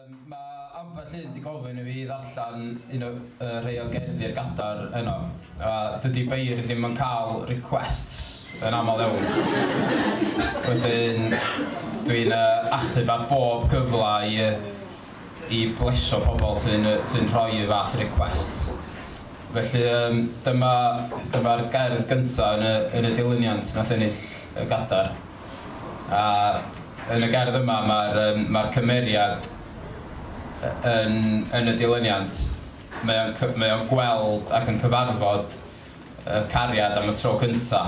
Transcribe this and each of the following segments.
Yym, ma' ambell un 'di gofyn i fi ddarllen un o yy rhei o gerddi ar gadar heno, a dydi beirdd ddim yn ca'l requests yn amal iawn. Wedyn dwi'n yy achub ar bob cyfla i yy i blesio pobol sy'n yy sy'n rhoi y fath requests. Felly yym dyma dyma'r gerdd gynta yn y yn y dilyniant nath ennill y gadar. a yn y gerdd yma mae'r yym mae'r cymeriad y- yn yn y dilyniant mae o'n cy- mae o'n gweld ac yn cyfarfod y cariad am y tro cynta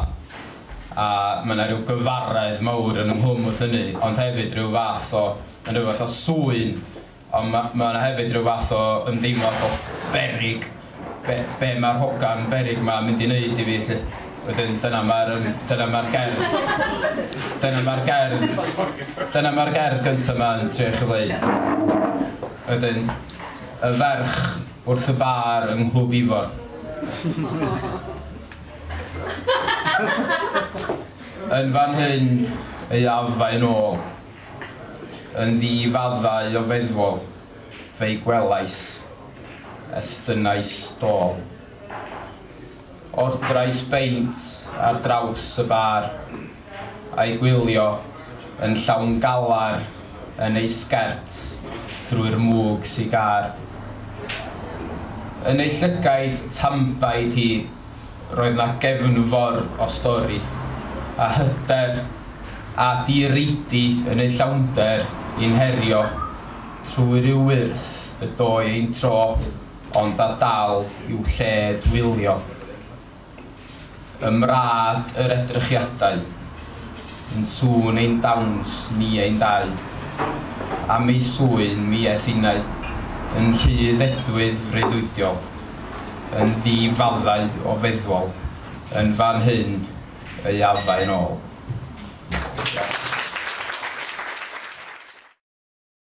a mae 'na ryw gyfaredd mawr yn ynghlwm wrth hynny ond hefyd ryw fath o yn ryw fath o sŵyn Ond mae mae yna hefyd rhyw fath o ymdeimlad o beryg, be be mae'r hogan beryg ma'n mynd i wneud i fi 'lly? Wedyn dyna mae'r yym dyna mae'r gerdd dyna mae'r gerdd dyna mae'r gerdd gynta 'ma'n trio i chi ddeu'. Wedyn y ferch wrth y bar yng Nghlwb Ifor. Yn fan hyn ei afa'i nôl. Yn ddi-faddau o feddwol fe'i gwelais, estynnais stôl. Ordrais beint ar draws y bar, a'i gwylio yn llawn galar yn ei sgert drwy'r mwg sigâr. Yn ei llygaid tambaid hi, Roedd 'na gefnfor o stori, a hyder, a direidi yn eu llawnder i'n herio trwy ryw wyrth y doi ein tro, ond a dal i'w lle dwylio. Ym mrâd yr edrychiadau, yn sŵn ein dawns ni ein dau, am ei sŵyn mi es innau, yn rhydd edwydd freuddwydiol. yn ddi-faddau o feddwol yn fan hyn ei addau yn ôl.